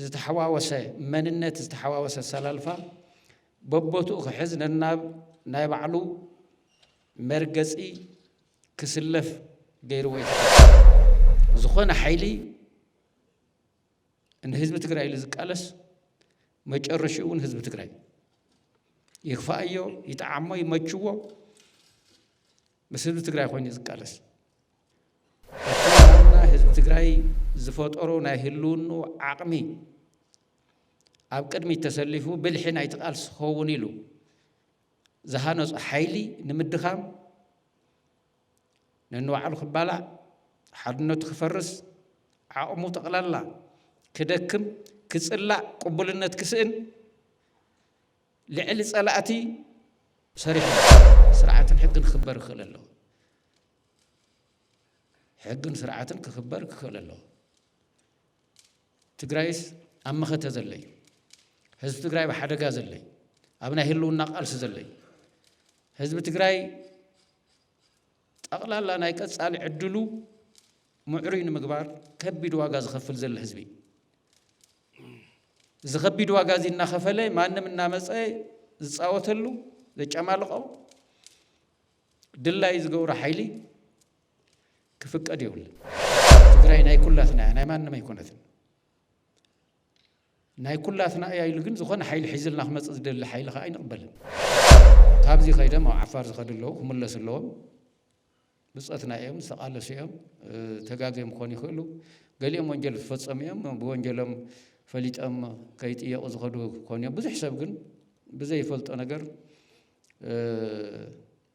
ዝተሓዋወሰ መንነት ዝተሓዋወሰ ኣሰላልፋ በቦትኡ ክሕዝ ነናብ ናይ ባዕሉ መርገፂ ክስለፍ ገይርዎ እዩ ዝኾነ ሓይሊ ንህዝቢ ትግራይ ኢሉ ዝቃለስ መጨረሽኡ እውን ህዝቢ ትግራይ እዩ። ይክፋኣዮ ይጠዓሞ ይመችዎ ምስ ህዝቢ ትግራይ ኮይኑ ዝቃለስ ኣተባና ህዝቢ ትግራይ ዝፈጠሮ ናይ ህልውኑ ዓቕሚ ኣብ ቅድሚት ተሰሊፉ ብልሒ ናይቲ ቃልሲ ክኸውን ኢሉ ዝሃነፁ ሓይሊ ንምድኻም ነንባዕሉ ክባላዕ፣ ሓድነቱ ክፈርስ፣ ዓቕሙ ጠቕላላ ክደክም፣ ክጽላእ፣ ቅቡልነት ክስእን ልዕሊ ጸላእቲ ሰሪሑ ኣሎ። ስርዓትን ሕግን ክኽበር ክኽእል ኣለዎ። ሕግን ስርዓትን ክኽበር ክኽእል ኣለዎ። ትግራይስ ኣብ መኸተ ዘሎ እዩ። ህዝቢ ትግራይ ብሓደጋ ዘሎ እዩ። ኣብ ናይ ህልውና ቃልሲ ዘሎ እዩ። ህዝቢ ትግራይ ጠቕላላ ናይ ቀጻሊ ዕድሉ ምዕሩይ ንምግባር ከቢድ ዋጋ ዝኸፍል ዘሎ ህዝቢ እዩ። እዚ ከቢድ ዋጋ እዚ እናኸፈለ ማንም እናመፀ ዝፃወተሉ ዘጨማልቆ ድላይ ዝገብሮ ሓይሊ ክፍቀድ የብሉ። ትግራይ ናይ ኩላትና እያ፣ ናይ ማንም ኣይኮነትን። ናይ ኩላትና እያ ኢሉ ግን ዝኾነ ሓይሊ ሒዝልና ክመፅእ ዝደሊ ሓይሊ ከኣ ኣይንቕበልን። ካብዚ ከይደም ኣብ ዓፋር ዝኸዱ ኣለዉ ክምለሱ ኣለዎም። ብፆትና እዮም ዝተቓለሱ እዮም ተጋግዮም ክኾኑ ይኽእሉ። ገሊኦም ወንጀል ዝፈፀሙ እዮም ብወንጀሎም ፈሊጦም ከይጥየቑ ዝኸዱ ክኾኑ እዮም። ብዙሕ ሰብ ግን ብዘይፈልጦ ነገር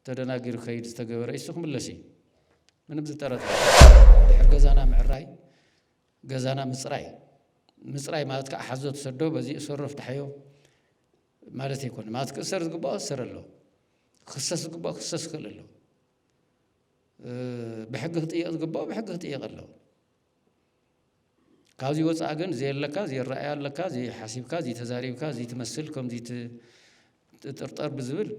ተደናጊሩ ከይድ ዝተገበረ እሱ ክምለስ እዩ ምንም ዝጠረጠ ድሕር ገዛና ምዕራይ ገዛና ምጽራይ ምጽራይ ማለት ከኣ ሓዞ ትሰዶ በዚ እሰሮ ፍትሓዮ ማለት ኣይኮነ ማለት ክእሰር ዝግባኦ እሰር ኣሎ ክክሰስ ዝግባኦ ክክሰስ ይኽእል ኣሎ ብሕጊ ክጥየቕ ዝግባኦ ብሕጊ ክጥየቕ ኣሎ ካብዚ ወፃእ ግን ዘየለካ ዘይረኣያ ኣለካ ዘይሓሲብካ ዘይተዛሪብካ ዘይትመስል ከም ዘይትጥርጠር ብዝብል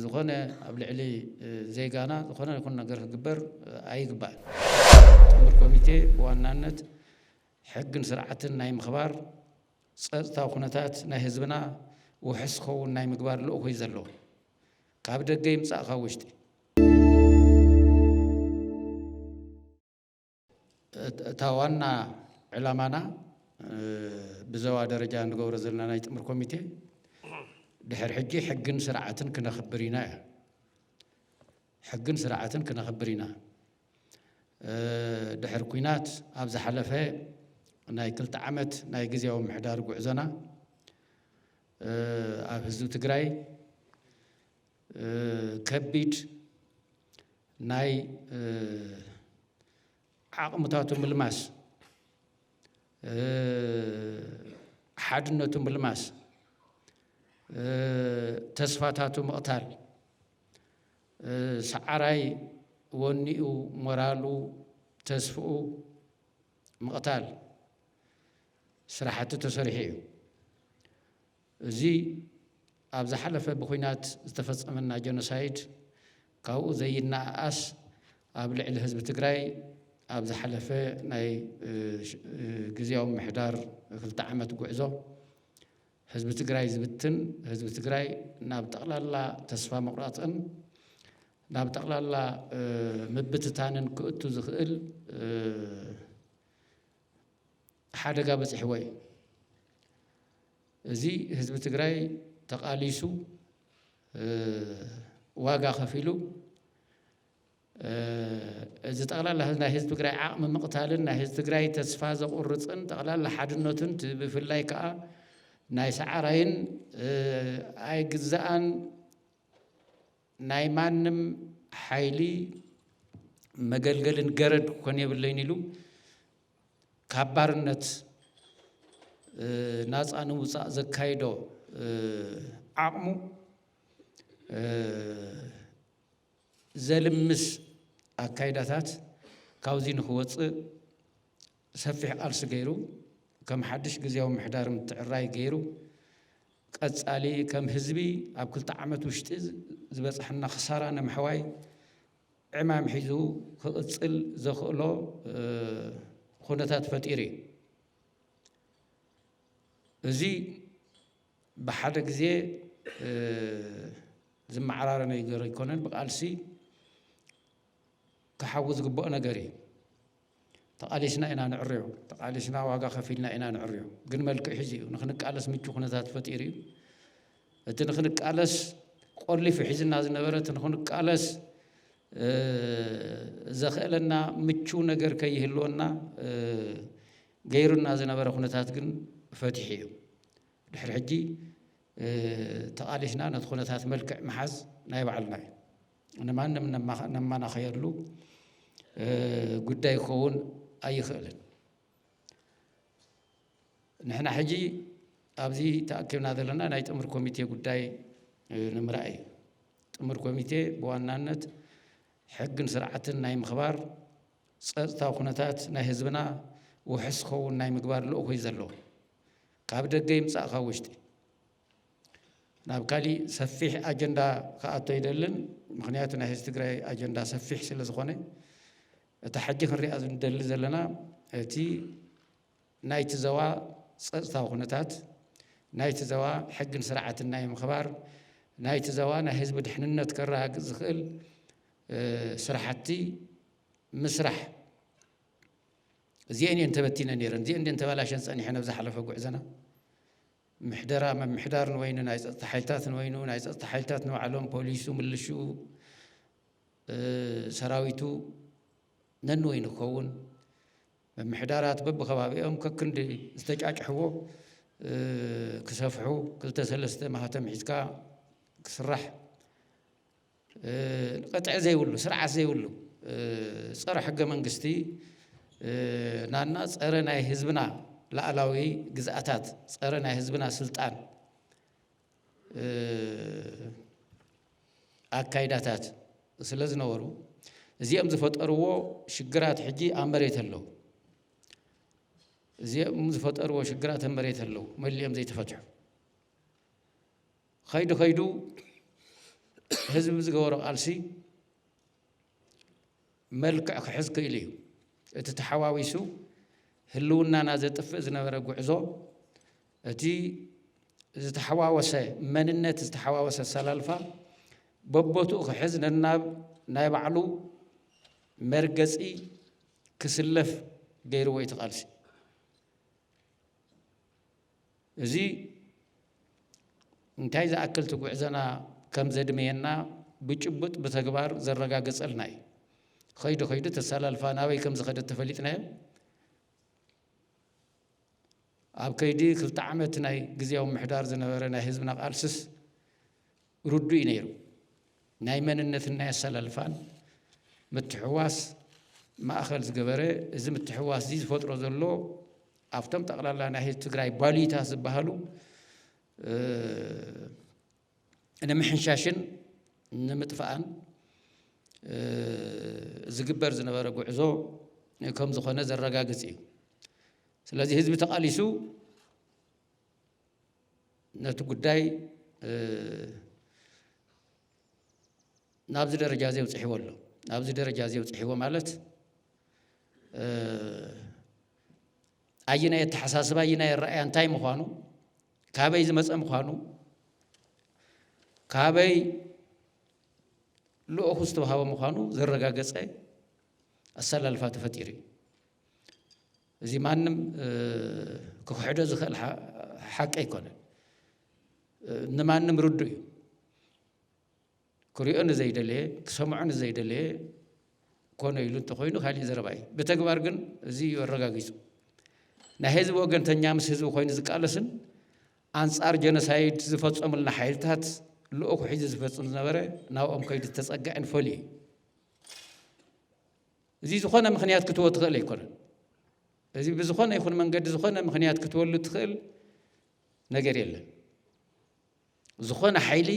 ዝኾነ ኣብ ልዕሊ ዜጋና ዝኾነ ይኹን ነገር ክግበር ኣይግባእን። ጥምር ኮሚቴ ብዋናነት ሕግን ስርዓትን ናይ ምኽባር፣ ፀፅታዊ ኩነታት ናይ ህዝብና ውሑስ ክኸውን ናይ ምግባር ልኡኽ እዩ ዘለዎ። ካብ ደገ ይምፃእ ካብ ውሽጢ። እታ ዋና ዕላማና ብዘዋ ደረጃ ንገብሮ ዘለና ናይ ጥምር ኮሚቴ ድሕር ሕጂ ሕግን ስርዓትን ክነኽብር ኢና እያ ሕግን ስርዓትን ክነኽብር ኢና ድሕር ኩናት ኣብ ዝሓለፈ ናይ ክልተ ዓመት ናይ ግዜያዊ ምሕዳር ጉዕዞና ኣብ ህዝቢ ትግራይ ከቢድ ናይ ዓቕምታቱ ምልማስ ሓድነቱ ምልማስ ተስፋታቱ ምቕታል ሰዓራይ ወኒኡ ሞራሉ ተስፍኡ ምቕታል ስራሕቲ ተሰሪሑ እዩ። እዚ ኣብ ዝሓለፈ ብኹናት ዝተፈፀመና ጀኖሳይድ ካብኡ ዘይነኣኣስ ኣብ ልዕሊ ህዝቢ ትግራይ ኣብ ዝሓለፈ ናይ ግዝያዊ ምምሕዳር ክልተ ዓመት ጉዕዞ ህዝቢ ትግራይ ዝብትን ህዝቢ ትግራይ ናብ ጠቕላላ ተስፋ ምቑራፅን ናብ ጠቕላላ ምብትታንን ክእቱ ዝኽእል ሓደጋ በፂሕዎ እዩ። እዚ ህዝቢ ትግራይ ተቓሊሱ ዋጋ ከፊሉ እዚ ጠቕላላ ናይ ህዝቢ ትግራይ ዓቕሚ ምቕታልን ናይ ህዝቢ ትግራይ ተስፋ ዘቑርፅን ጠቕላላ ሓድነቱን ብፍላይ ከዓ ናይ ሰዓራይን ኣይግዛኣን ናይ ማንም ሓይሊ መገልገልን ገረድ ክኮን የብለይን ኢሉ ካብ ባርነት ናፃ ንምውፃእ ዘካይዶ ዓቕሙ ዘልምስ ኣካይዳታት ካብዙይ ንክወፅእ ሰፊሕ ቃልሲ ገይሩ ከም ሓዱሽ ግዝያዊ ምምሕዳር ምትዕርራይ ገይሩ ቀፃሊ ከም ህዝቢ ኣብ ክልተ ዓመት ውሽጢ ዝበፀሐና ክሳራ ንምሕዋይ ዕማም ሒዙ ክቕፅል ዘኽእሎ ኹነታት ፈጢሩ እዩ። እዚ ብሓደ ግዜ ዝመዓራረ ነገር ኣይኮነን፣ ብቃልሲ ክሓዊ ዝግበኦ ነገር እዩ። ተቓሊስና ኢና ንዕርዮ ተቓሊስና ዋጋ ከፊልና ኢና ንዕርዮ ግን መልክዕ ሒዙ እዩ ንክንቃለስ ምቹ ኩነታት ፈጢሩ እዩ እቲ ንክንቃለስ ቆሊፉ ሒዝና ዝነበረ እቲ ንክንቃለስ ዘኽእለና ምቹ ነገር ከይህልወና ገይሩና ዝነበረ ኩነታት ግን ፈቲሑ እዩ ድሕሪ ሕጂ ተቓሊስና ነቲ ኩነታት መልክዕ ምሓዝ ናይ ባዕልና እዩ ንማንም ነማናኸየሉ ጉዳይ ክኸውን ኣይኽእልን። ንሕና ሕጂ ኣብዚ ተኣኪብና ዘለና ናይ ጥምር ኮሚቴ ጉዳይ ንምርኣይ እዩ። ጥምር ኮሚቴ ብዋናነት ሕግን ስርዓትን ናይ ምኽባር ጸጥታዊ ኩነታት ናይ ህዝብና ውሕስ ክኸውን ናይ ምግባር ልእኹ እዩ ዘለዎ ካብ ደገ ይምጻእ ካብ ውሽጢ ናብ ካሊእ ሰፊሕ ኣጀንዳ ክኣቱ ኣይደልን ምኽንያቱ ናይ ህዝቢ ትግራይ ኣጀንዳ ሰፊሕ ስለ ዝኾነ እታ ሕጂ ክንሪኣ ዝንደሊ ዘለና እቲ ናይቲ ዘዋ ፀፅታዊ ኩነታት ናይቲ ዘዋ ሕግን ስርዓትን ናይ ምኽባር ናይቲ ዘዋ ናይ ህዝቢ ድሕንነት ከረጋግፅ ዝኽእል ስራሕቲ ምስራሕ እዚኤን እየን ተበቲነ ነይረን እዚኤን እየን ተባላሸን ፀኒሐን ኣብ ዝሓለፈ ጉዕዘና ምሕደራ ምምሕዳር ንበይኑ ናይ ፀጥታ ሓይልታት ንበይኑ ናይ ፀጥታ ሓይልታት ንባዕሎም ፖሊሱ ምልሽኡ ሰራዊቱ ነንበይኑ ክኸውን ምምሕዳራት በብከባቢኦም ከክንዲ ዝተጫጭሕዎ ክሰፍሑ ክልተ ሰለስተ ማህተም ሒዝካ ክስራሕ ቕጥዒ ዘይብሉ ስርዓት ዘይብሉ ፀረ ሕገ መንግስቲ ናና ፀረ ናይ ህዝብና ላእላዊ ግዝኣታት ፀረ ናይ ህዝብና ስልጣን ኣካይዳታት ስለ ዝነበሩ እዚኦም ዝፈጠርዎ ሽግራት ሕጂ ኣብ መሬት ኣለዉ። እዚኦም ዝፈጠርዎ ሽግራት ኣብ መሬት ኣለዉ መሊኦም ዘይተፈትሑ። ኸይዱ ኸይዱ ህዝቢ ብዝገበሮ ቃልሲ መልክዕ ክሕዝ ክኢሉ እዩ። እቲ ተሓዋዊሱ ህልውናና ዘጥፍእ ዝነበረ ጉዕዞ እቲ ዝተሓዋወሰ መንነት ዝተሓዋወሰ ኣሰላልፋ በቦትኡ ክሕዝ ነናብ ናይ ባዕሉ መርገፂ ክስለፍ ገይርዎ እዩ ተቓልሲ እዚ እንታይ ዝኣክል እቲ ጉዕዘና ከም ዘድመየና ብጭቡጥ ብተግባር ዘረጋገጸልና እዩ። ኸይዱ ኸይዱ እቲ ኣሰላልፋ ናበይ ከም ዝኸደ ተፈሊጥናዮ ኣብ ከይዲ ክልተ ዓመት ናይ ግዝያዊ ምሕዳር ዝነበረ ናይ ህዝብና ቃልስስ ርዱእ እዩ ነይሩ። ናይ መንነትን ናይ ኣሰላልፋን ምትሕውዋስ ማእኸል ዝገበረ እዚ ምትሕውዋስ እዚ ዝፈጥሮ ዘሎ ኣብቶም ጠቕላላ ናይ ህዝቢ ትግራይ ባልዩታት ዝበሃሉ ንምሕንሻሽን ንምጥፋእን ዝግበር ዝነበረ ጉዕዞ ከም ዝኾነ ዘረጋግፅ እዩ። ስለዚ ህዝቢ ተቓሊሱ ነቲ ጉዳይ ናብዚ ደረጃ እዚ ኣብፅሕዎ ኣሎ ናብዚ ደረጃ እዚ ኣብፅሕዎ ማለት ኣየናይ ኣተሓሳስባ ኣየናይ ኣረኣያ እንታይ ምዃኑ ካበይ ዝመፀ ምዃኑ ካበይ ልኡኹ ዝተውሃበ ምዃኑ ዘረጋገፀ ኣሰላልፋ ተፈጢሩ እዩ እዚ ማንም ክክሕዶ ዝኽእል ሓቂ ኣይኮነን ንማንም ርዱ እዩ ክሪኦ ንዘይደለየ ክሰምዖ ንዘይደለየ ኮነ ኢሉ እንተኮይኑ ካሊእ ዘረባ እዩ ብተግባር ግን እዚ እዩ ኣረጋጊፁ ናይ ህዝቢ ወገንተኛ ምስ ህዝቢ ኮይኑ ዝቃለስን ኣንጻር ጀኖሳይድ ዝፈፀሙልና ሓይልታት ልኡኹ ሒዙ ዝፈፅም ዝነበረ ናብኦም ከይዱ ዝተፀግዐን ፈልዩ እዩ እዚ ዝኾነ ምኽንያት ክትቦ ትኽእል ኣይኮነን። እዚ ብዝኾነ ይኹን መንገዲ ዝኾነ ምኽንያት ክትበሉ ትኽእል ነገር የለን። ዝኾነ ሓይሊ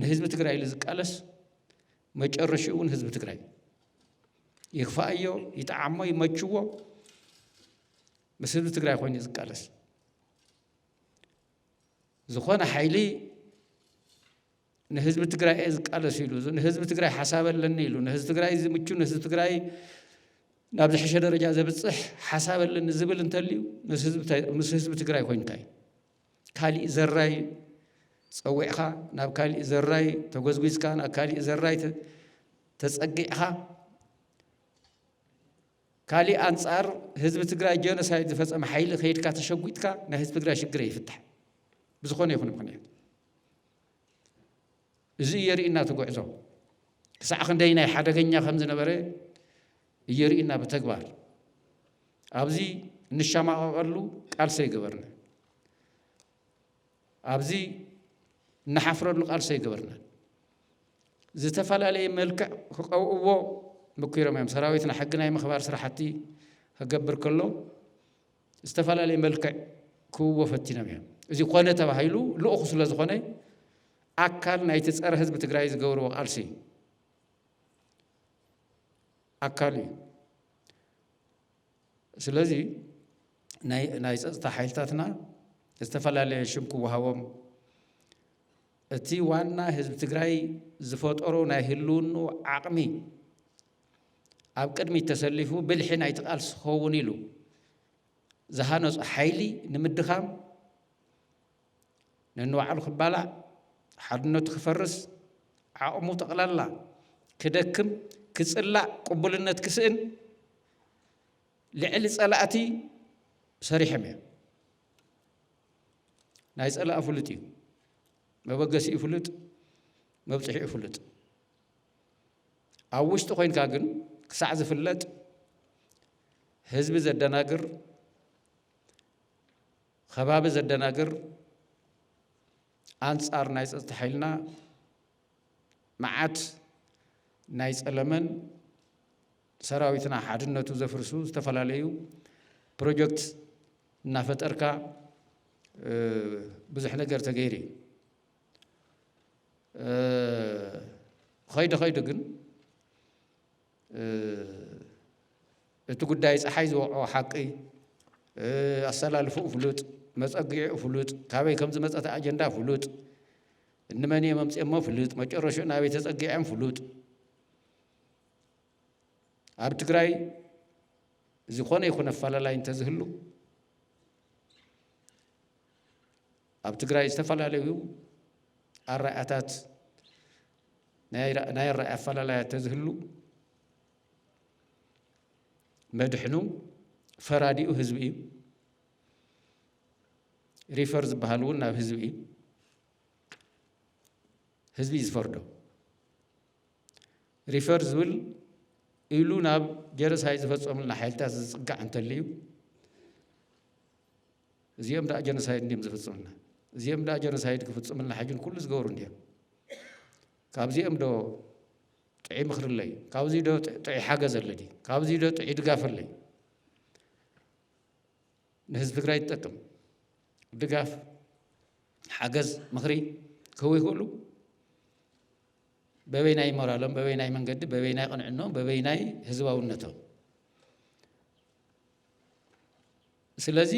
ንህዝቢ ትግራይ ኢሉ ዝቃለስ መጨረሽኡ እውን ህዝቢ ትግራይ ይኽፋኣዮ፣ ይጠዓሞ፣ ይመችዎ ምስ ህዝቢ ትግራይ ኮይኑ ዝቃለስ ዝኾነ ሓይሊ ንህዝቢ ትግራይ እየ ዝቃለስ ኢሉ ንህዝቢ ትግራይ ሓሳብ ኣለኒ ኢሉ ንህዝቢ ትግራይ ዝምቹ ንህዝቢ ትግራይ ናብ ዝሕሸ ደረጃ ዘብፅሕ ሓሳብ ኣለኒ ዝብል እንተልዩ ምስ ህዝቢ ትግራይ ኮይንካ እዩ ካሊእ ዘራይ ፀዊዕኻ ናብ ካሊእ ዘራይ ተጎዝጒዝካ ናብ ካሊእ ዘራይ ተፀጊዕኻ ካሊእ ኣንፃር ህዝቢ ትግራይ ጀኖሳይድ ዝፈፀመ ሓይሊ ከይድካ ተሸጉጥካ ናይ ህዝቢ ትግራይ ሽግር ኣይፍታሕን ብዝኾነ ይኹን ምኽንያት እዚ እየርእና እቲ ጉዕዞ ክሳዕ ክንደይ ናይ ሓደገኛ ከም ዝነበረ እየርእና ብተግባር ኣብዚ እንሻማቐቐሉ ቃልሲ ኣይገበርና ኣብዚ እንሓፍረሉ ቃልሲ ኣይገበርናን። ዝተፈላለየ መልክዕ ክቐብእዎ ምኲሮም እዮም። ሰራዊትና ሕጊ ናይ ምኽባር ስራሕቲ ክገብር ከሎ ዝተፈላለየ መልክዕ ክህብዎ ፈቲኖም እዮም። እዚ ኮነ ተባሂሉ ልኡኹ ስለ ዝኾነ ኣካል ናይቲ ፀረ ህዝቢ ትግራይ ዝገብርዎ ቃልሲ እዩ። ኣካሉ እዩ። ስለዚ ናይ ናይ ጸጥታ ሓይልታትና ዝተፈላለየ ሽም ክወሃቦም እቲ ዋና ህዝቢ ትግራይ ዝፈጠሮ ናይ ህልውኑ ዓቕሚ ኣብ ቅድሚት ተሰሊፉ ብልሒ ናይቲ ቃልሲ ክኸውን ኢሉ ዝሃነፁ ሓይሊ ንምድኻም ነንባዕሉ ክባላዕ ሓድነቱ ክፈርስ ዓቕሙ ጠቕላላ ክደክም ክጽላእ ቅቡልነት ክስእን ልዕሊ ፀላእቲ ሰሪሐም እዮም ናይ ፀላእ ፍሉጥ እዩ መበገሲኡ ፍሉጥ መብፅሒኡ ፍሉጥ ኣብ ውሽጢ ኮንካ ግን ክሳዕ ዝፍለጥ ህዝቢ ዘደናግር ከባቢ ዘደናግር ኣንፃር ናይ ፀፅታ ሓይልና መዓት ናይ ጸለመን ሰራዊትና ሓድነቱ ዘፍርሱ ዝተፈላለዩ ፕሮጀክት እናፈጠርካ ብዙሕ ነገር ተገይሩ እዩ ኸይዱ ኸይዱ ግን እቲ ጉዳይ ፀሓይ ዝወቅዖ ሓቂ ኣሰላልፍኡ ፍሉጥ መፀጊዑ ፍሉጥ ካበይ ከም ዝመፀተ ኣጀንዳ ፍሉጥ እንመን እዬም ኣምጼሞ ፍልጥ መጨረሽኡ ናበይ ተጸጊዐም ፍሉጥ ኣብ ትግራይ ዝኾነ ይኹን ኣፈላላይ እንተዝህሉ ኣብ ትግራይ ዝተፈላለዩ ኣረኣእያታት ናይ ኣረኣእያ ኣፈላላያት ተዝህሉ መድሕኑ ፈራዲኡ ህዝቢ እዩ ሪፈር ዝበሃል እውን ናብ ህዝቢ እዩ ህዝቢ እዩ ዝፈርዶ። ሪፈር ዝብል ኢሉ ናብ ጀረሳይ ዝፈፀሙልና ሓይልታት ዝፅጋዕ እንተልዩ እዚኦም ዳኣ ጀኖሳይድ እንዲም ዝፍፅሙልና እዚኦም ዳኣ ጀኖሳይድ ክፍፅሙልና ሕጅን ኩሉ ዝገብሩ እንዲም ካብዚኦም ዶ ጥዑይ ምክሪ ኣለይ ካብዚ ዶ ጥዑይ ሓገዝ ኣለዲ ካብዚ ዶ ጥዑይ ድጋፍ ኣለይ ንህዝቢ ትግራይ ዝጠቅም ድጋፍ፣ ሓገዝ፣ ምኽሪ ክህቡ ይኽእሉ። በበይናይ ሞራሎም፣ በበይናይ መንገዲ፣ በበይናይ ቅንዕኖም፣ በበይናይ ህዝባውነቶም። ስለዚ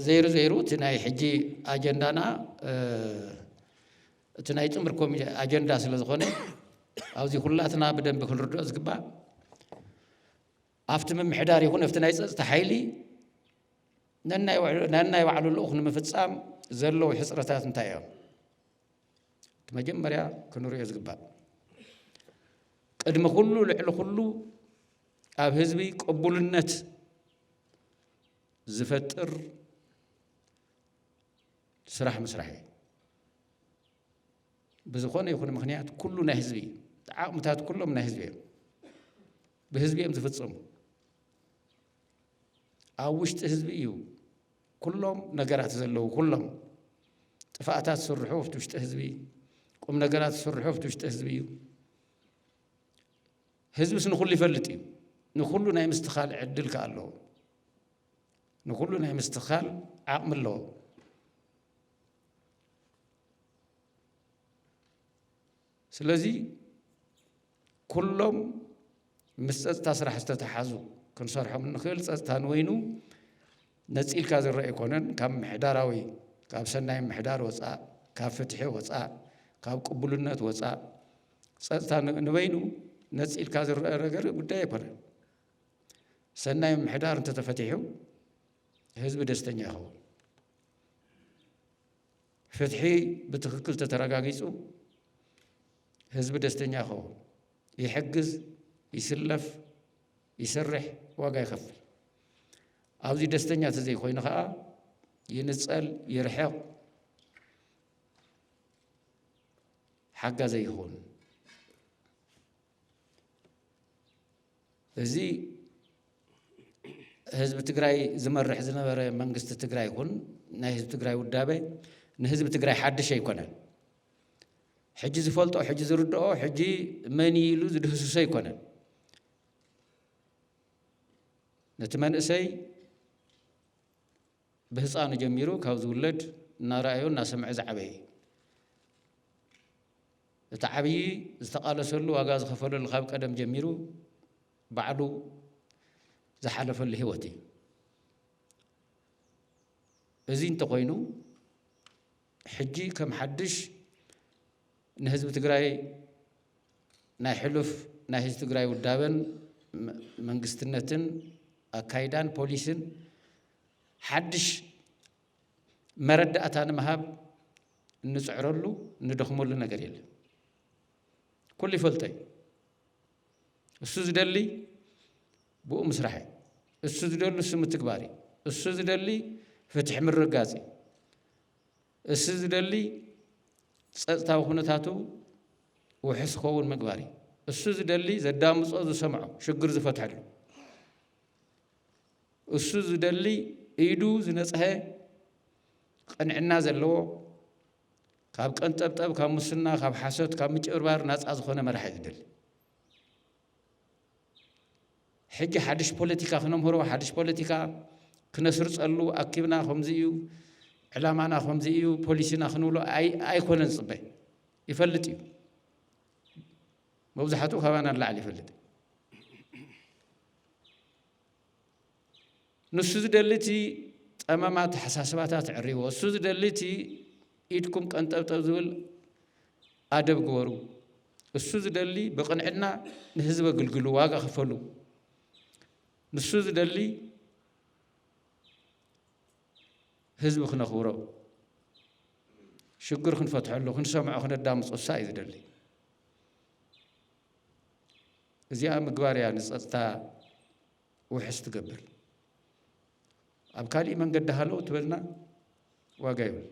ዘይሩ ዘይሩ እቲ ናይ ሕጂ ኣጀንዳና እቲ ናይ ጥምር ኮሚ ኣጀንዳ ስለ ዝኾነ ኣብዚ ኩላትና ብደንቢ ክንርድኦ ዝግባእ ኣብቲ ምምሕዳር ይኹን ኣብቲ ናይ ፀፅታ ሓይሊ ነናይ ባዕሉ ልኡኽ ንምፍፃም ዘለዉ ሕፅረታት እንታይ እዮም? እቲ መጀመርያ ክንሪኦ ዝግባእ ቅድሚ ኩሉ ልዕሊ ኩሉ ኣብ ህዝቢ ቅቡልነት ዝፈጥር ስራሕ ምስራሕ እዩ። ብዝኾነ ይኹን ምክንያት ኩሉ ናይ ህዝቢ እዩ። ዓቕምታት ኩሎም ናይ ህዝቢ እዮም። ብህዝቢ እዮም ዝፍፀሙ። ኣብ ውሽጢ ህዝቢ እዩ ኩሎም ነገራት ዘለዉ ኩሎም ጥፋኣታት ዝስርሑ ኣብቲ ውሽጢ ህዝቢ ቁም ነገራት ዝስርሑ ኣብቲ ውሽጢ ህዝቢ እዩ። ህዝብስ ንኩሉ ይፈልጥ እዩ። ንኩሉ ናይ ምስትኻል ዕድል ከ ኣለዎ። ንኩሉ ናይ ምስትኻል ዓቕሚ ኣለዎ። ስለዚ ኩሎም ምስ ፀፅታ ስራሕ ዝተተሓዙ ክንሰርሖም እንኽእል ፀፅታ ንወይኑ ነፂልካ ዝረአ ኣይኮነን። ካብ ምሕዳራዊ ካብ ሰናይ ምሕዳር ወፃእ፣ ካብ ፍትሒ ወፃእ፣ ካብ ቅቡልነት ወፃእ ፀፅታ ንበይኑ ነፂልካ ዝረአ ነገር ጉዳይ ኣይኮነን። ሰናይ ምሕዳር እንተተፈቲሑ ህዝቢ ደስተኛ ይኸውን። ፍትሒ ብትኽክል ተተረጋጊፁ ህዝቢ ደስተኛ ይኸውን፣ ይሕግዝ፣ ይስለፍ፣ ይሰርሕ፣ ዋጋ ይኸፍል። ኣብዚ ደስተኛ ተዘይኮይኑ ከዓ ይንፀል፣ ይርሕቕ፣ ሓጋዘይ ይኸውን። እዚ ህዝቢ ትግራይ ዝመርሕ ዝነበረ መንግስቲ ትግራይ ይኹን ናይ ህዝቢ ትግራይ ውዳበ ንህዝቢ ትግራይ ሓድሽ ኣይኮነን። ሕጂ ዝፈልጦ ሕጂ ዝርድኦ ሕጂ መን ኢሉ ዝድህስሶ ኣይኮነን። ነቲ መንእሰይ ብህፃኑ ጀሚሩ ካብ ዝውለድ እናረኣዮ እናሰምዐ ዝዓበየ እዩ። እቲ ዓብዪ ዝተቓለሰሉ ዋጋ ዝኸፈለሉ ካብ ቀደም ጀሚሩ ባዕሉ ዝሓለፈሉ ህይወት እዩ። እዚ እንተኾይኑ ሕጂ ከም ሓድሽ ንህዝቢ ትግራይ ናይ ሕሉፍ ናይ ህዝቢ ትግራይ ውዳበን መንግስትነትን ኣካይዳን ፖሊስን ሓድሽ መረዳእታ ንምሃብ እንፅዕረሉ እንደኽመሉ ነገር የለን። ኩሉ ይፈልጦ እዩ። እሱ ዝደሊ ብኡ ምስራሕ እዩ። እሱ ዝደሉ እሱ ምትግባር እዩ። እሱ ዝደሊ ፍትሒ ምርጋጽ እዩ። እሱ ዝደሊ ጸጥታዊ ኩነታቱ ውሕስ ክኸውን ምግባር እዩ። እሱ ዝደሊ ዘዳምጾ ዝሰምዖ ሽግር ዝፈትሐሉ እሱ ዝደሊ ኢዱ ዝነጽሀ ቅንዕና ዘለዎ ካብ ቀንጠብጠብ ካብ ሙስና ካብ ሓሶት ካብ ምጭብርባር ናጻ ዝኾነ መራሒ ዝደሊ ሕጂ ሓድሽ ፖለቲካ ክነምህሮ ሓድሽ ፖለቲካ ክነስርጸሉ ኣኪብና ከምዚ እዩ ዕላማና ከምዚ እዩ ፖሊሲና ክንብሎ ኣይኮነን ዝፅበ ይፈልጥ እዩ መብዛሕትኡ ካባና ንላዕሊ ይፈልጥ ንሱ ዝደሊ እቲ ጸመም ኣተሓሳስባታት ዕሪዎ፣ እሱ ዝደሊ እቲ ኢድኩም ቀንጠብጠብ ዝብል ኣደብ ግበሩ፣ እሱ ዝደሊ ብቕንዕና ንህዝቢ ኣግልግሉ፣ ዋጋ ክፈሉ፣ ንሱ ዝደሊ ህዝቢ ክነኽብሮ፣ ሽግር ክንፈትሐሉ፣ ክንሰምዖ፣ ክነዳምፆ እሳ እዩ ዝደሊ። እዚኣ ምግባር እያ ንፀጥታ ውሕስ ትገብር ኣብ ካሊእ መንገዲ ሃለው ትበልና ዋጋ ይብል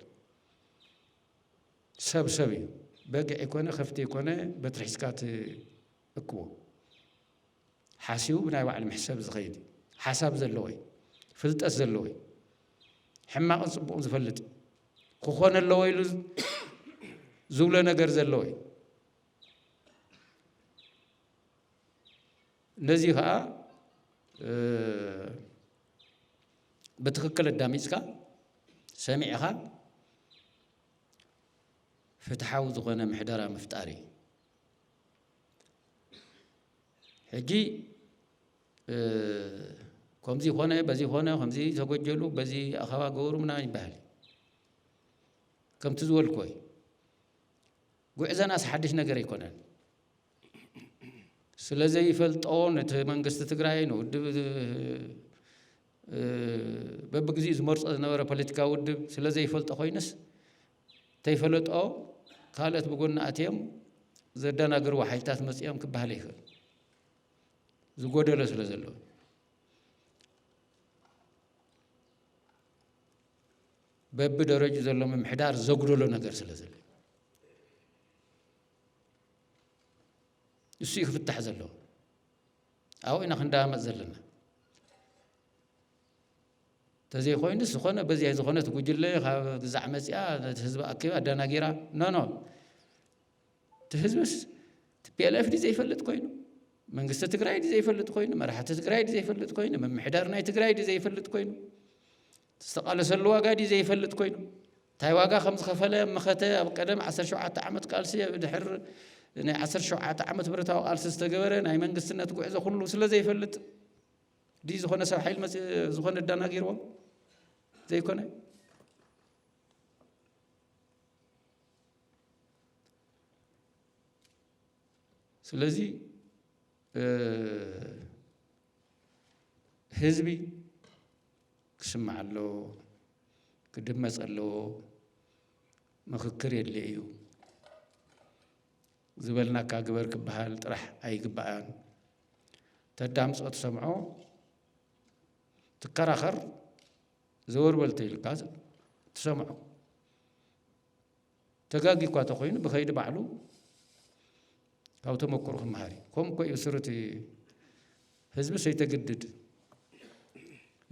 ሰብ ሰብ እዩ በግዕ ይኮነ ከፍቲ ይኮነ በትሪ ሒዝካ ትእክቦ ሓሲቡ ብናይ ባዕሉ መሕሰብ ዝኸይድ ሓሳብ ዘለዎ እዩ ፍልጠት ዘለዎ እዩ ሕማቕን ፅቡቕን ዝፈልጥ እዩ ክኾነ ኣለዎ ኢሉ ዝብሎ ነገር ዘለዎ እዩ ነዚ ኸኣ ብትኽክል ኣዳሚጽካ ሰሚዕኻ ፍትሓዊ ዝኾነ ምሕደራ ምፍጣር እዩ ሕጂ ከምዚ ኾነ በዚ ኾነ ከምዚ ተጎጀሉ በዚ ኣኸባ ገበሩ ምና ይበሃል ከምቲ ዝበልኮይ ጉዕዘናስ ሓድሽ ነገር ኣይኮነን ስለ ዘይፈልጦ ነቲ መንግስቲ ትግራይ ንውድብ በብግዚኡ ዝመርፆ ዝነበረ ፖለቲካዊ ውድብ ስለ ዘይፈልጦ ኮይኑስ ተይፈለጦ ካልኦት ብጎኒ ኣትዮም ዘደናግርዎ ሓይልታት መፅኦም ክበሃል ይኽእል ዝጎደሎ ስለ ዘሎ በቢ ደረጁ ዘሎ ምምሕዳር ዘጉደሎ ነገር ስለ ዘሎ ንሱ እዩ ክፍታሕ ዘለዎ ኣብኡ ኢና ክንዳመፅ ዘለና ተዘይኮይኑ ዝኾነ በዚያ ዝኾነት ጉጅለ ካብ ግዛዕ መፅያ ነቲ ህዝቢ ኣኪባ ኣደናጊራ ኖኖ እቲ ህዝብስ ቲፒኤልኤፍ ዲ ዘይፈልጥ ኮይኑ መንግስቲ ትግራይ ዲ ዘይፈልጥ ኮይኑ መራሕቲ ትግራይ ዲ ዘይፈልጥ ኮይኑ ምምሕዳር ናይ ትግራይ ዲ ዘይፈልጥ ኮይኑ ዝተቓለሰሉ ዋጋ ድዩ ዘይፈልጥ ኮይኑ? እንታይ ዋጋ ከም ዝኸፈለ መኸተ ኣብ ቀደም ዓሰርተ ሸውዓተ ዓመት ቃልሲ ኣብ ድሕር ናይ ዓሰርተ ሸውዓተ ዓመት ብረታዊ ቃልሲ ዝተገበረ ናይ መንግስትነት ጉዕዞ ኩሉ ስለ ዘይፈልጥ ድዩ ዝኾነ ሰብ ሓይል መፅ ዝኾነ ኣዳናጊርዎ ዘይኮነ ስለዚ ህዝቢ ክስማዕ ኣለዎ ክድመፅ ኣለዎ ምኽክር የድልዮ እዩ ዝበልናካ ግበር ክበሃል ጥራሕ ኣይግባእን። ተዳምፆ ትሰምዖ ትከራኸር ዘወርበል ተይልካ ትሰምዖ ተጋጊ እኳ ተኾይኑ ብኸይዲ ባዕሉ ካብ ተመክሮ ክመሃር እዩ ከምኡ እኮ እዩ ስር እቲ ህዝቢ ሰይተግድድ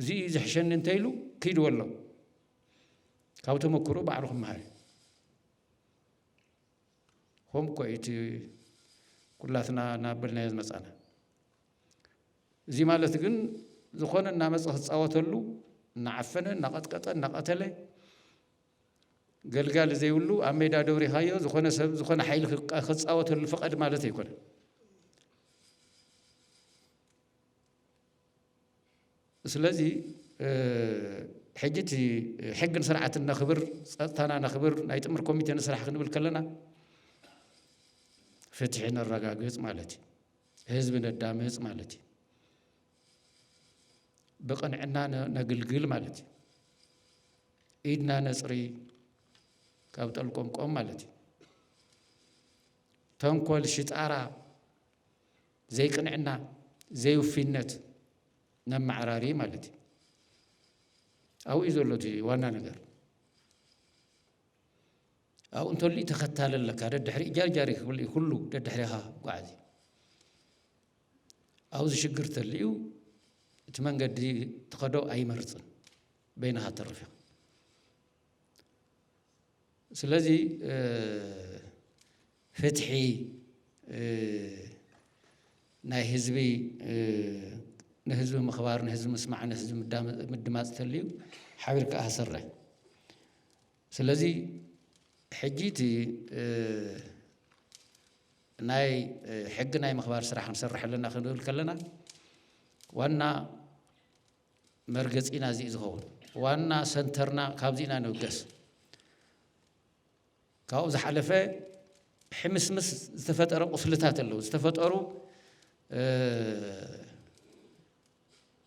እዚ እዩ ዝሕሸኒ እንተይሉ ክይድ ወሎ ካብ ተመክሮ ባዕሉ ክመሃር እዩ ከምኡ እኮ እዩ እቲ ኩላትና እናበልናዮ ዝመፃና እዚ ማለት ግን ዝኾነ እናመፀ ክፃወተሉ እናዓፈነ እናቐጥቀጠ እናቐተለ ገልጋሊ ዘይብሉ ኣብ ሜዳ ደብሪኻዮ ዝኾነ ሰብ ዝኾነ ሓይሊ ክፃወተሉ ፍቐድ ማለት ኣይኮነን። ስለዚ ሕጂ እቲ ሕግን ስርዓትን ነኽብር፣ ፀጥታና ነኽብር፣ ናይ ጥምር ኮሚቴ ንስራሕ ክንብል ከለና ፍትሒ ነረጋግፅ ማለት እዩ። ህዝቢ ነዳምፅ ማለት እዩ። ብቕንዕና ነግልግል ማለት እዩ። ኢድና ነጽሪ ካብ ጠልቆምቆም ማለት እዩ። ተንኮል፣ ሽጣራ፣ ዘይቅንዕና፣ ዘይውፊነት ነመዓራሪ ማለት እዩ። ኣብኡ እዩ ዘሎ እቲ ዋና ነገር። ኣብኡ እንተሉ ተኸታሊ ኣለካ ደድሕሪ ጃርጃሪ ክብል ኩሉ ደድሕሪኻ ጓዓዚ ኣብዚ ሽግር ተልዩ እቲ መንገዲ ትኸዶ ኣይመርፅን በይንኻ ተርፍ ኢኻ ስለዚ ፍትሒ ናይ ህዝቢ ንህዝቢ ምኽባር ንህዝቢ ምስማዕ ንህዝቢ ምድማፅ ተልዩ ሓቢርካ ኣሰርሕ ስለዚ ሕጂ እቲ ናይ ሕጊ ናይ ምኽባር ስራሕ ክንሰርሕ ኣለና ክንብል ከለና ዋና መርገፂና እዚ ዝኸውን ዋና ሰንተርና ካብዚ ኢና ንብገስ ካብኡ ዝሓለፈ ሕምስምስ ዝተፈጠረ ቁስልታት ኣለዉ ዝተፈጠሩ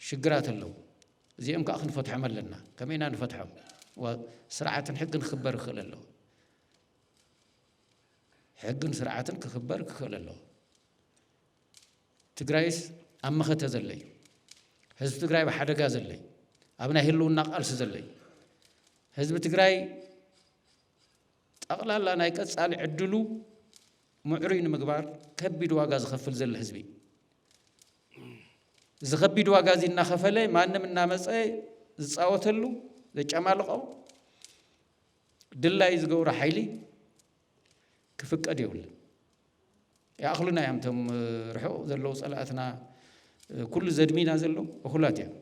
ሽግራት ኣለዉ እዚኦም ከኣ ክንፈትሖም ኣለና ከመይ ኢና ንፈትሖም ስርዓትን ሕግን ክኽበር ይኽእል ኣለዎ ሕግን ስርዓትን ክኽበር ክኽእል ኣለዎ ትግራይስ ኣብ መኸተ ዘሎ እዩ ህዝቢ ትግራይ ብሓደጋ ዘሎ እዩ ኣብ ናይ ህልውና ቃልሲ ዘሎ እዩ ህዝቢ ትግራይ ጠቕላላ ናይ ቀጻሊ ዕድሉ ምዕሩይ ንምግባር ከቢድ ዋጋ ዝኸፍል ዘሎ ህዝቢ እዩ እዚ ከቢድ ዋጋ እዚ እናኸፈለ ማንም እናመፀ ዝፃወተሉ ዘጨማልቖ ድላዩ ዝገብሮ ሓይሊ ክፍቀድ የብሉን። ይኣኽሉና እዮም እቶም ርሑቕ ዘለዉ ፀላእትና ኩሉ ዘድሚና ዘሎ እኹላት እዮም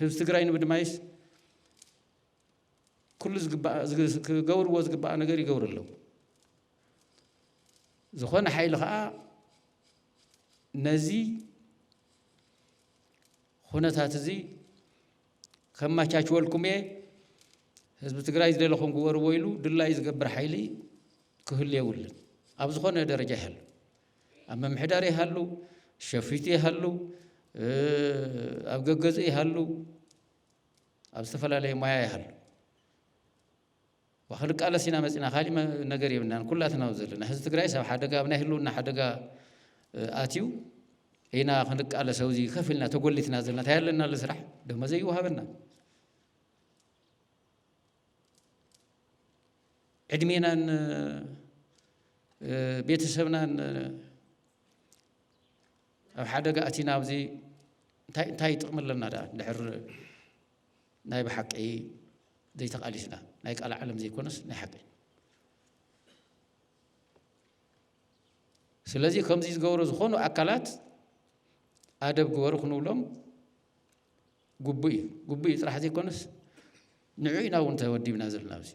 ህዝቢ ትግራይ ንምድማይስ ኩሉ ዝግባእ ዝግ- ክገብርዎ ዝግባእ ነገር ይገብሩ ኣለዉ ዝኾነ ሓይሊ ከዓ ነዚ ኩነታት እዚ ከመቻችወልኩም እየ ህዝቢ ትግራይ ዝደለኹም ግበርዎ ኢሉ ድላዩ ዝገብር ሓይሊ ክህሉ የብሉን ኣብ ዝኾነ ደረጃ ይሃሉ ኣብ ምምሕዳር ይሃሉ ሸፊቱ ይሃሉ እ፣ ኣብ ገገዝኡ ይሃሉ ኣብ ዝተፈላለየ ሞያ ይሃሉ ክንቃለስ ኢና መፂና ካሊእ ነገር የብልናን ኩላትና ዘለና ህዝቢ ትግራይ ኣብ ሓደጋ ኣብ ናይ ህልውና ሓደጋ ኣትዩ ኢና ክንቃለስ ኣብዚ ከፍ ኢልና ተጎሊትና ዘለና እንታይ ኣለና ስራሕ ደሞ ዘይወሃበና ዕድሜናን ቤተሰብናን ኣብ ሓደጋ ኣቲና ኣብዚ እንታይ እንታይ ጥቕሚ ኣለና ደኣ ድሕር ናይ ብሓቂ ዘይተቓሊስና ናይ ቃል ዓለም ዘይኮነስ ናይ ሓቂ ስለዚ ከምዚ ዝገብሩ ዝኾኑ ኣካላት ኣደብ ግበሩ ክንብሎም ግቡእ እዩ ግቡእ እዩ ጥራሕ ዘይኮነስ ንዑ ኢና እውን ተወዲብና ዘለና ኣብዚ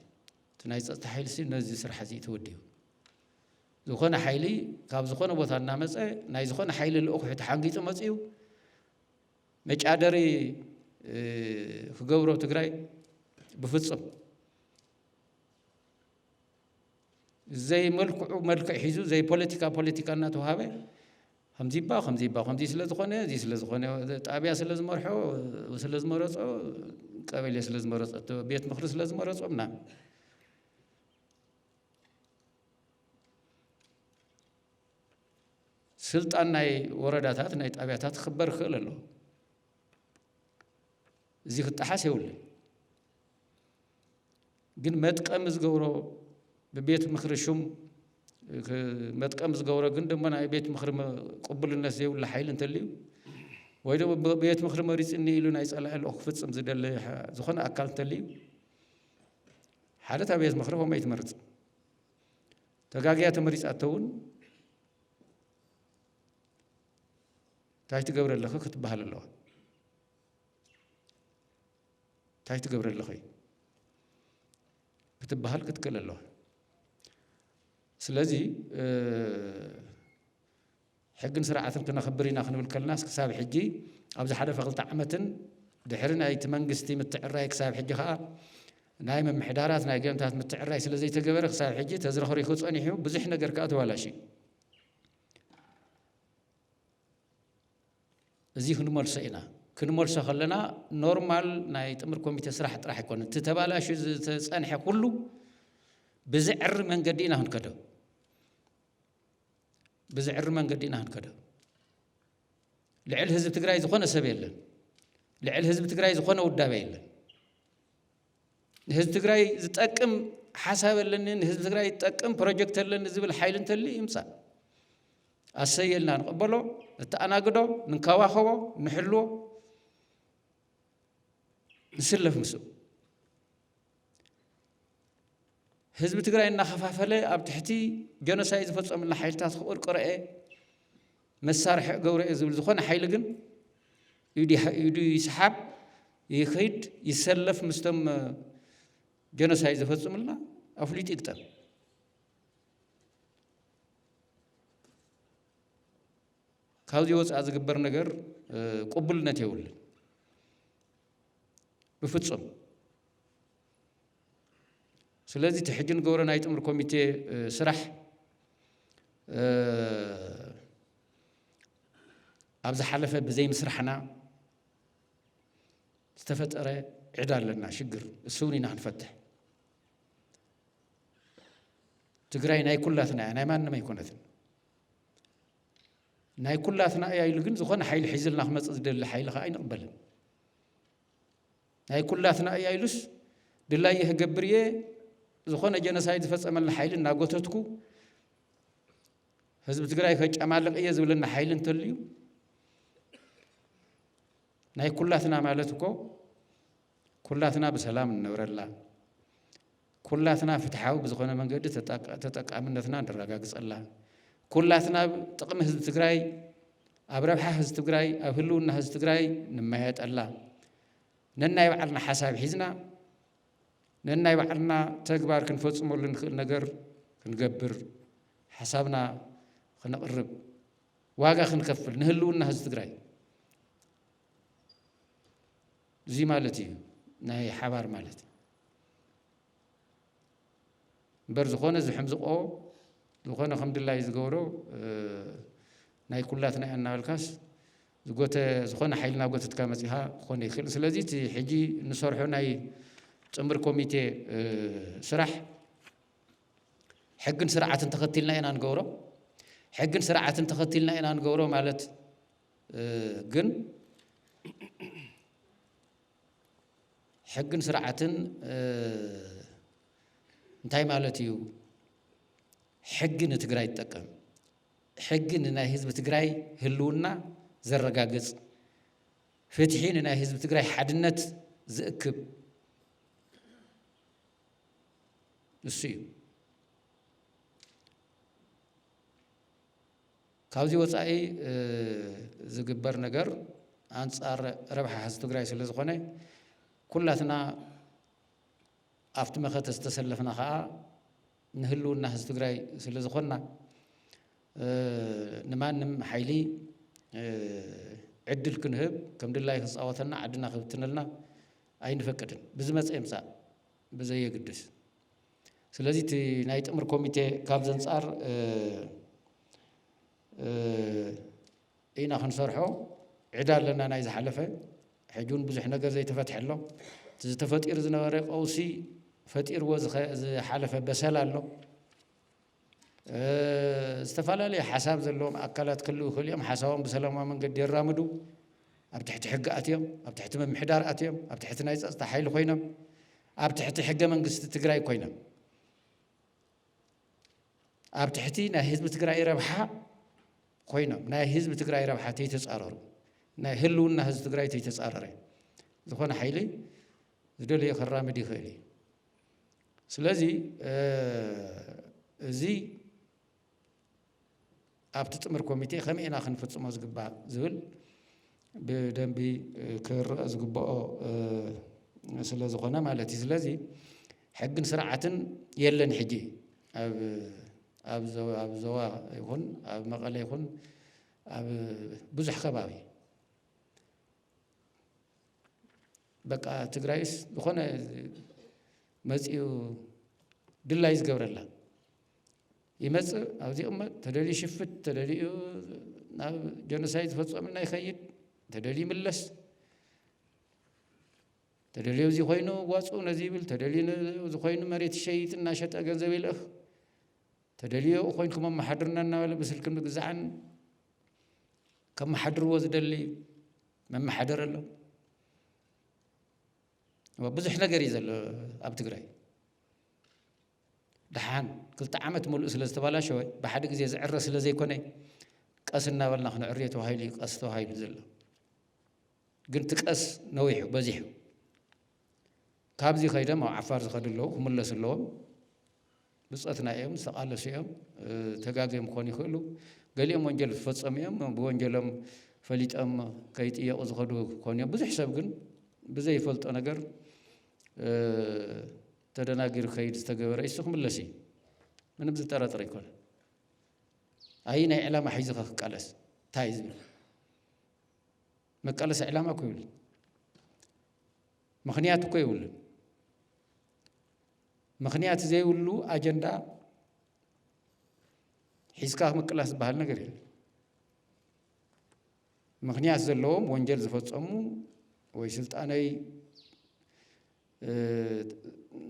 እቲ ናይ ፀጥታ ሓይልሲ ነዚ ስራሕ እዚ ተወዲቡ ዝኾነ ሓይሊ ካብ ዝኾነ ቦታ እናመፀ ናይ ዝኾነ ሓይሊ ልኡኽ ተሓንጊፁ መፅኡ መጫደሪ ክገብሮ ትግራይ ብፍፁም ዘይመልክዑ መልክዕ ሒዙ ዘይ ፖለቲካ ፖለቲካ እናተዋሃበ ከምዚባ ከምዚባ ከምዚ ስለ ዝኾነ እዚ ስለ ዝኾነ ጣብያ ስለ ዝመርሖ ስለ ዝመረፆ ቀበሌ ስለ ዝመረፆ ቤት ምክሪ ስለ ዝመረፆ ምናምን ስልጣን ናይ ወረዳታት ናይ ጣብያታት ክኽበር ይኽእል ኣሎ እዚ ክጠሓስ የብሉን ግን መጥቀሚ ዝገብሮ ብቤት ምክሪ ሹም መጥቀሚ ዝገብሮ ግን ድማ ናይ ቤት ምክሪ ቅቡልነት ዘይብሉ ሓይሊ እንተልዩ ወይ ድማ ብቤት ምክሪ መሪፅኒ ኢሉ ናይ ፀላኢ ልኦ ክፍፅም ዝደለ ዝኾነ ኣካል እንተልዩ ሓደ እታ ቤት ምኽሪ ከምኡ ኣይትመርጽ ተጋግያ ተመሪጻ እተውን እንታይ ትገብረ ኣለኺ ክትበሃል ኣለዋ እንታይ ትገብረ ኣለኺ ክትበሃል ክትክእል ኣለዋ ስለዚ ሕግን ስርዓትን ክነኽብር ኢና ክንብል ከለናስ ክሳብ ሕጂ ኣብ ዝሓለፈ ክልተ ዓመትን ድሕሪ ናይቲ መንግስቲ ምትዕርራይ ክሳብ ሕጂ ከኣ ናይ ምምሕዳራት ናይ ገምታት ምትዕርራይ ስለ ዘይተገበረ ክሳብ ሕጂ ተዝረኽሪኹ ጸኒሑ ብዙሕ ነገር ከኣ ተባላሽዩ እዚ ክንመልሶ ኢና ክንመልሶ ከለና ኖርማል ናይ ጥምር ኮሚቴ ስራሕ ጥራሕ ኣይኮነ እቲ ተባላሹ ዝተፀንሐ ኩሉ ብዝዕሪ መንገዲ ኢና ክንከዶ ብዝዕሪ መንገዲ ኢና ክንከዶ ልዕል ህዝቢ ትግራይ ዝኾነ ሰብ የለን ልዕል ህዝቢ ትግራይ ዝኾነ ውዳበ የለን ንህዝቢ ትግራይ ዝጠቅም ሓሳብ ኣለኒ ንህዝቢ ትግራይ ዝጠቅም ፕሮጀክት ኣለኒ ዝብል ሓይሊ እንተል ይምፃእ ኣሰየልና ንቕበሎ ንተኣናግዶ ንንከባኸቦ ንሕልዎ ንስለፍ ምስኡ ህዝቢ ትግራይ እናኸፋፈለ ኣብ ትሕቲ ጀኖሳይ ዝፈፀሙላ ሓይልታት ክቕርቅረ እየ መሳርሒ እገብሮ እየ ዝብል ዝኾነ ሓይሊ ግን ኢዱ ይስሓብ ይኸይድ ይሰለፍ ምስቶም ጀኖሳይ ዝፈፅሙልና ኣፍሊጡ ይግጠም ካብዚ ወፃእ ዝግበር ነገር ቅቡልነት የብሉን ብፍጹም ስለዚ እቲ ሕጂ ንገብሮ ናይ ጥምር ኮሚቴ ስራሕ ኣብ ዝሓለፈ ብዘይምስራሕና ዝተፈጠረ ዕዳ ኣለና ሽግር እሱ እውን ኢና ክንፈትሕ ትግራይ ናይ ኩላትና እያ ናይ ማንም ኣይኮነትን ናይ ኩላትና እያ ኢሉ ግን ዝኾነ ሓይሊ ሒዝልና ክመፅእ ዝደሊ ሓይሊ ከዓ ኣይንቕበልን። ናይ ኩላትና እያ ኢሉስ ድላየ ክገብር እየ ዝኾነ ጀነሳይድ ዝፈፀመልና ሓይሊ እናጎተትኩ ህዝቢ ትግራይ ከጨማልቕ እየ ዝብለና ሓይሊ እንተልዩ ናይ ኩላትና ማለት እኮ ኩላትና ብሰላም እንነብረላ ኩላትና ፍትሓዊ ብዝኾነ መንገዲ ተጠቃምነትና ንረጋግፀላ፣ ኩላትና ኣብ ጥቕሚ ህዝቢ ትግራይ፣ ኣብ ረብሓ ህዝቢ ትግራይ፣ ኣብ ህልውና ህዝቢ ትግራይ ንመያየጠላ፣ ነናይ ባዕልና ሓሳብ ሒዝና ነናይ ባዕልና ተግባር ክንፈፅመሉ ንኽእል ነገር ክንገብር ሓሳብና ክነቕርብ ዋጋ ክንከፍል ንህልውና ህዝቢ ትግራይ እዚ ማለት እዩ ናይ ሓባር ማለት እዩ እምበር ዝኾነ ዝሕምዝቆ ዝኾነ ከም ድላይ ዝገብሮ ናይ ኩላትና ኢና እናበልካስ ዝጎተ ዝኾነ ሓይሊ እናጎተትካ መፂኻ ክኾነ ይኽእል ስለዚ እቲ ሕጂ ንሰርሖ ናይ ፅምር ኮሚቴ ስራሕ ሕግን ስርዓትን ተኸቲልና ኢና ንገብሮ ሕግን ስርዓትን ተኸቲልና ኢና ንገብሮ ማለት ግን ሕግን ስርዓትን እንታይ ማለት እዩ? ሕጊ ንትግራይ ትጠቀም ሕጊ ንናይ ህዝቢ ትግራይ ህልውና ዘረጋግፅ ፍትሒ ንናይ ህዝቢ ትግራይ ሓድነት ዝእክብ ንሱ እዩ። ካብዚ ወፃኢ ዝግበር ነገር ኣንፃር ረብሓ ህዝቢ ትግራይ ስለዝኾነ ኩላትና ኣብቲ መኸተ ዝተሰለፍና ከዓ ንህልውና ህዝቢ ትግራይ ስለዝኾንና ንማንም ሓይሊ ዕድል ክንህብ ከም ድላዩ ክፃወተና ዓድና ክብትነልና ኣይንፈቅድን። ብዝመፀ ይምፃእ ብዘየግድስ። ስለዚ እቲ ናይ ጥምር ኮሚቴ ካብ ዘንጻር ኢና ክንሰርሖ ዕዳ ኣለና ናይ ዝሓለፈ ሕጂ እውን ብዙሕ ነገር ዘይተፈትሐ ኣሎ እቲ ዝተፈጢሩ ዝነበረ ቀውሲ ፈጢርዎ ዝሓለፈ በሰላ ኣሎ ዝተፈላለየ ሓሳብ ዘለዎም ኣካላት ክህልው ይኽእሉ እዮም። ሓሳቦም ብሰላማዊ መንገዲ የራምዱ፣ ኣብ ትሕቲ ሕጊ ኣትዮም፣ ኣብ ትሕቲ ምምሕዳር ኣትዮም፣ ኣብ ትሕቲ ናይ ፀፅታ ሓይሊ ኮይኖም፣ ኣብ ትሕቲ ሕገ መንግስቲ ትግራይ ኮይኖም፣ ኣብ ትሕቲ ናይ ህዝቢ ትግራይ ረብሓ ኮይኖም፣ ናይ ህዝቢ ትግራይ ረብሓ ተይተፃረሩ፣ ናይ ህልውና ህዝቢ ትግራይ ተይተፃረረ ዝኾነ ሓይሊ ዝደለዮ ከራምድ ይኽእል እዩ። ስለዚ እዚ ኣብቲ ጥምር ኮሚቴ ከመይ ኢና ክንፍፅሞ ዝግባእ ዝብል ብደንቢ ክርአ ዝግብኦ ስለ ዝኾነ ማለት እዩ ስለዚ ሕግን ስርዓትን የለን ሕጂ ኣብ ኣብ ዞባ ይኹን ኣብ መቐለ ይኹን ኣብ ብዙሕ ከባቢ በቃ ትግራይስ ዝኾነ መፂኡ ድላዩ ዝገብረላ ይመፅእ ኣብዚ ይቕመጥ ተደልዩ ይሽፍት ተደልዩ ናብ ጀኖሳይድ ዝፈፀሙልና ይኸይድ ተደልዩ ይምለስ ተደልዩ እዚ ኮይኑ ዋፁ ነዚ ይብል ተደልዩ ዝኾይኑ መሬት ይሸይጥ እናሸጠ ገንዘብ ይልእኽ ተደልዮ ኮይንኩም ኣመሓድርና እናበለ ብስልክን ብግዛዕን ከመሓድርዎ ዝደሊ መመሓደር ኣሎ ብዙሕ ነገር እዩ ዘሎ ኣብ ትግራይ ደሓን ክልተ ዓመት ሙሉእ ስለ ዝተባላሸወ ብሓደ ግዜ ዝዕረ ስለ ዘይኮነ ቀስ እናበልና ክንዕርዮ ተባሂሉ እዩ ቀስ ተባሂሉ ዘሎ ግን እቲ ቀስ ነዊሑ በዚሑ ካብዚ ከይዶም ኣብ ዓፋር ዝኸዱ ኣለዉ ክምለሱ ኣለዎም ብጾትና እዮም ዝተቃለሱ እዮም ተጋግዮም ክኾኑ ይኽእሉ ገሊኦም ወንጀል ዝፈጸሙ እዮም ብወንጀሎም ፈሊጦም ከይጥየቁ ዝኸዱ ክኾኑ እዮም ብዙሕ ሰብ ግን ብዘይፈልጦ ነገር ተደናጊሩ ከይድ ዝተገበረ እሱ ክምለስ እዩ ምንም ዝጠረጥር ኣይኮነ ኣይ ናይ ዕላማ ሒዝኻ ክቃለስ እንታይ እዩ ዝብል መቃለሲ ዕላማ እኮ ይብልን ምክንያት እኮ ይብልን ምኽንያት ዘይብሉ ኣጀንዳ ሒዝካ ምቅላስ ዝበሃል ነገር የለን። ምኽንያት ዘለዎም ወንጀል ዝፈጸሙ ወይ ስልጣነይ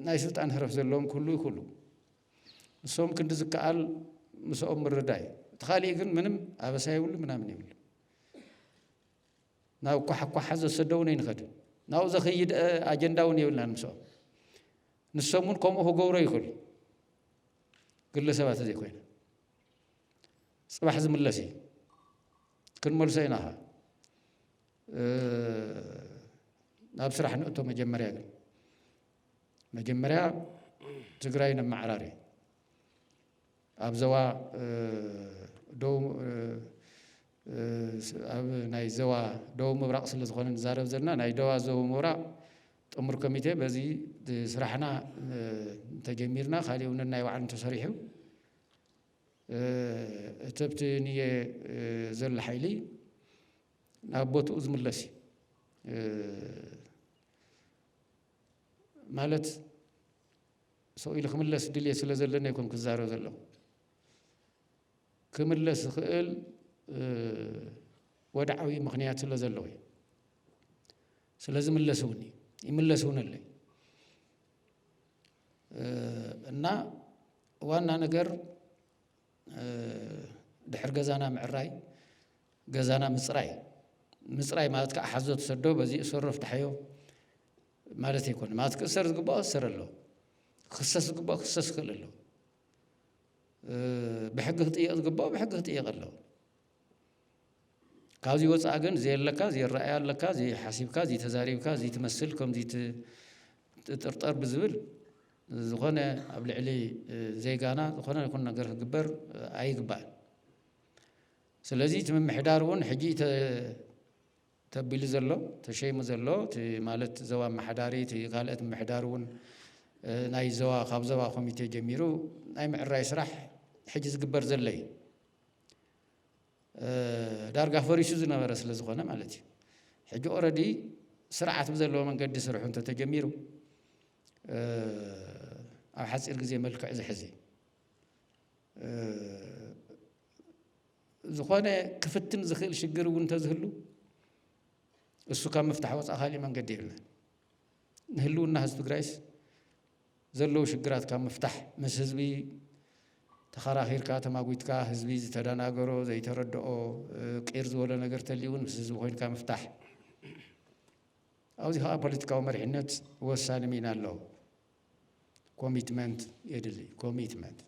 ናይ ስልጣን ህረፍ ዘለዎም ክህሉ ይኽእሉ። ንሶም ክንዲ ዝከኣል ምስኦም ምርዳይ እዩ። እቲ ካሊእ ግን ምንም ኣበሳ ይብሉ ምናምን ይብሉ። ናብ ኳሕኳሓ ዘሰደውኒ ንኸድ ናብኡ ዘኸይድ ኣጀንዳ እውን የብልናን ምስኦም ንሶም እውን ከምኡ ክገብሮ ይኽእሉ ግለሰባት ዘይኮይነ ፅባሕ ዝምለስ እዩ ክንመልሶ ኢና ኸ ናብ ስራሕ ንእቶ መጀመርያ ግን መጀመርያ ትግራይ ነመዓራሪ ኣብ ዘዋ ኣብ ናይ ዘዋ ደቡብ ምብራቕ ስለ ዝኾነ ንዛረብ ዘለና ናይ ደዋ ዘቡብ ምብራቕ ጥሙር ኮሚቴ በዚ ስራሕና እንተጀሚርና ካልእ እውን ናይ ባዕሉ እንተሰሪሑ እትብቲ ንየ ዘሎ ሓይሊ ናብ ቦትኡ ዝምለስ እዩ። ማለት ሰው ኢሉ ክምለስ ድልየት ስለ ዘለኒ ኣይኮን ክዛረብ ዘለኹ ክምለስ ዝኽእል ወድዓዊ ምክንያት ስለ ዘለዎ እዩ ስለዚ ምለስውኒ ይምለስውንለይ እና ዋና ነገር ድሕሪ ገዛና ምዕራይ ገዛና ምፅራይ ምፅራይ ማለት ከዓ ሓዞ ትሰዶ በዚ እሰሮ ፍታሐዮ ማለት ኣይኮነ ማለት ክእሰር ዝግባኦ እሰር ኣሎ ክሰስ ዝግባኦ ክሰስ ክእል ኣሎ ብሕጊ ክጥየቕ ዝግባኦ ብሕጊ ክጥየቕ ኣሎ ካብዚ ወፃኢ ግን ዘየለካ ዘይረኣያ ኣለካ ዘይሓሲብካ ዘይተዛሪብካ ዘይትመስል ከም ዘይትጥርጠር ብዝብል ዝኾነ ኣብ ልዕሊ ዜጋና ዝኾነ ይኹን ነገር ክግበር ኣይግባእን። ስለዚ እቲ ምምሕዳር እውን ሕጂ ተቢሉ ዘሎ ተሸይሙ ዘሎ እቲ ማለት ዘዋ ኣመሓዳሪ እቲ ካልኦት ምምሕዳር እውን ናይ ዘዋ ካብ ዘዋ ኮሚቴ ጀሚሩ ናይ ምዕራይ ስራሕ ሕጂ ዝግበር ዘሎ እዩ። ዳርጋ ፈሪሱ ዝነበረ ስለ ዝኾነ ማለት እዩ ሕጂ ኦረዲ ስርዓት ብዘለዎ መንገዲ ስርሑ እንተተጀሚሩ ኣብ ሓፂር ግዜ መልክዕ ዝሕዝ እዩ ዝኾነ ክፍትን ዝኽእል ሽግር እውን እንተዝህሉ እሱ ካብ ምፍታሕ ወፃእ ካሊእ መንገዲ የለን ንህልውና ህዝቢ ትግራይስ ዘለዉ ሽግራት ካብ ምፍታሕ ምስ ህዝቢ ተኸራኺርካ ተማጒትካ ህዝቢ ዝተደናገሮ ዘይተረድኦ ቂር ዝበሎ ነገር ተልዩ እውን ምስ ህዝቢ ኮይንካ ምፍታሕ ኣብዚ ከዓ ፖለቲካዊ መሪሕነት ወሳኒ ሚና ኣለዎ። ኮሚትመንት የድሊ ኮሚትመንት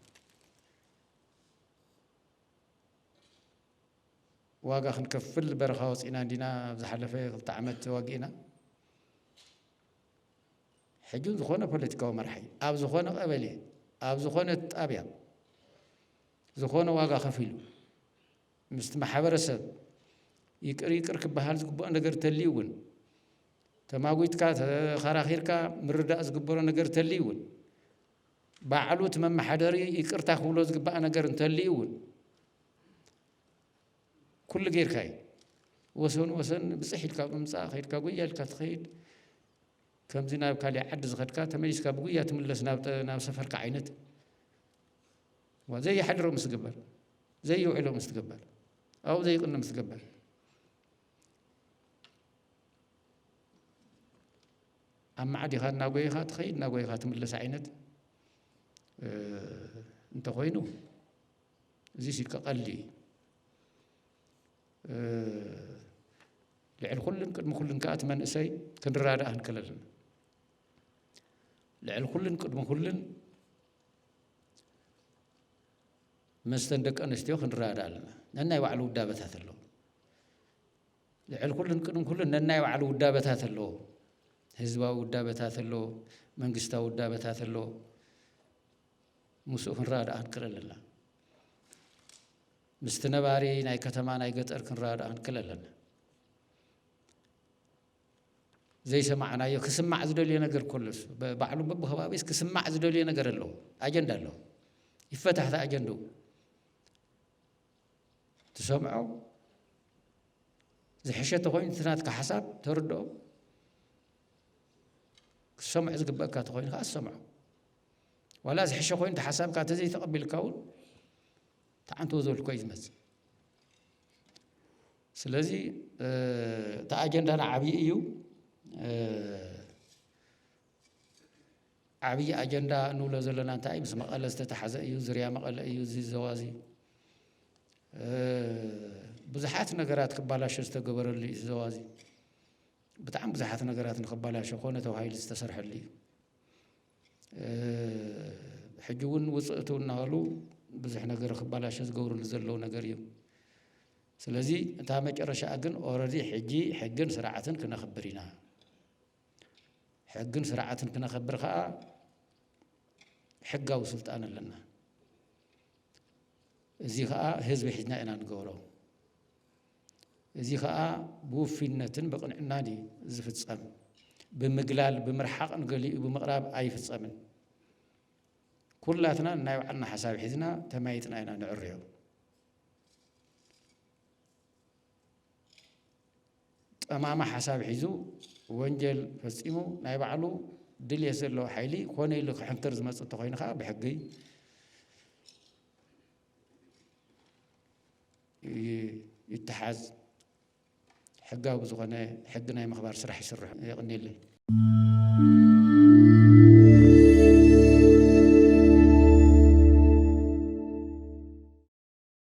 ዋጋ ክንከፍል በረኻ ወፂእና እንዲና ኣብ ዝሓለፈ ክልተ ዓመት ተዋጊእና ሕጂ ዝኾነ ፖለቲካዊ መራሒ ኣብ ዝኾነ ቀበሌ ኣብ ዝኾነ ጣብያ ዝኾነ ዋጋ ከፊሉ ምስቲ ማሕበረሰብ ይቅር ይቅር ክበሃል ዝግብኦ ነገር ተልዩ እውን ተማጒትካ ተኸራኺርካ ምርዳእ ዝግበሮ ነገር ተልዩ እውን ባዕሉ እቲ መመሓደሪ ይቅርታ ክብሎ ዝግባእ ነገር እንተልዩ እውን ኩሉ ጌርካ እዩ ወሰን ወሰን ብፅሕ ኢልካ ብምፃእ ከይድካ ጉያ ኢልካ ትኸይድ ከምዚ ናብ ካሊእ ዓዲ ዝኸድካ ተመሊስካ ብጉያ ትምለስ ናብ ሰፈርካ ዓይነት ዘይሓድሮ ምስ ትግበር ዘይውዕሎ ምስ ትግበር ኣብኡ ዘይቕነ ምስ ትግበር ኣማዕዲኻ እናጎየኻ ትኸይድ እናጎየኻ ትምለስ ዓይነት እንተኾይኑ እዚ ሲ ቀቐሊ ልዕሊ ኩሉን ቅድሚ ኩሉን ከዓ እቲ መንእሰይ ክንረዳእ ክንክእል ኣለና ልዕሊ ኩሉን ቅድሚ ኩሉን መስተን ደቂ ኣንስትዮ ክንረዳእ ኣለና ነናይ ባዕሉ ውዳበታት ኣለዎ ልዕል ኩሉን ቅድሚ ኩሉን ነናይ ባዕሉ ውዳበታት ኣለዎ። ህዝባዊ ውዳበታት ኣሎ፣ መንግስታዊ ውዳበታት ኣሎ። ምስኡ ክንረዳዳእ ክንክእል ኣለና። ምስቲ ነባሪ ናይ ከተማ ናይ ገጠር ክንረዳዳእ ክንክእል ኣለና። ዘይሰማዕናዮ ክስማዕ ዝደልዮ ነገር ኮሎስ ባዕሉ በብከባቢስ ክስማዕ ዝደልዮ ነገር ኣለዎ፣ ኣጀንዳ ኣለዎ። ይፈታሕታ ኣጀንድኡ ትሰምዖ ዝሕሸ ተኾይኑ እቲ ናትካ ሓሳብ ተርድኦ ክትሰምዖ ዝግበእካ ተኾይኑ ከዓ ትሰምዖ ዋላ ዝሕሸ ኮይኑ እቲ ሓሳብካ ተዘይተቐቢልካ እውን ተዓንትዎ ዘልኮ እዩ ዝመፅእ ስለዚ እቲ ኣጀንዳና ዓብዪ እዩ ዓብይ ኣጀንዳ እንብሎ ዘለና እንታይ ምስ መቐለ ዝተታሓዘ እዩ፣ ዝርያ መቐለ እዩ እዚ ዞባ እዚ። ብዙሓት ነገራት ክባላሾ ዝተገበረሉ እዩ እዚ ዞባ እዚ። ብጣዕሚ ብዙሓት ነገራት ንክባላሾ ኮነ ተባሂሉ ዝተሰርሐሉ እዩ። ሕጂ እውን ውፅእ እትው እናበሉ ብዙሕ ነገር ክባላሾ ዝገብርሉ ዘለዉ ነገር እዩ። ስለዚ እታ መጨረሻ ግን ኦረዲ ሕጂ ሕግን ስርዓትን ክነኽብር ኢና። ሕግን ስርዓትን ክነኸብር ኸኣ ሕጋዊ ስልጣን ኣለና። እዚ ኸኣ ህዝቢ ሒዝና ኢና ንገብሮ። እዚ ኸኣ ብውፍይነትን ብቕንዕናን እዩ ዝፍጸም። ብምግላል ብምርሓቕን ገሊኡ ብምቕራብ ኣይፍጸምን። ኩላትና ናይ ባዕልና ሓሳብ ሒዝና ተማይጥና ኢና ንዕርዮ። ጠማማ ሓሳብ ሒዙ ወንጀል ፈፂሙ ናይ ባዕሉ ድልየት ዘለዎ ሓይሊ ኮነ ኢሉ ክሕንክር ዝመፅ እንተኾይኑ ከዓ ብሕጊ ይተሓዝ ሕጋዊ ብዝኾነ ሕጊ ናይ ምኽባር ስራሕ ይስርሑ የቕኒለይ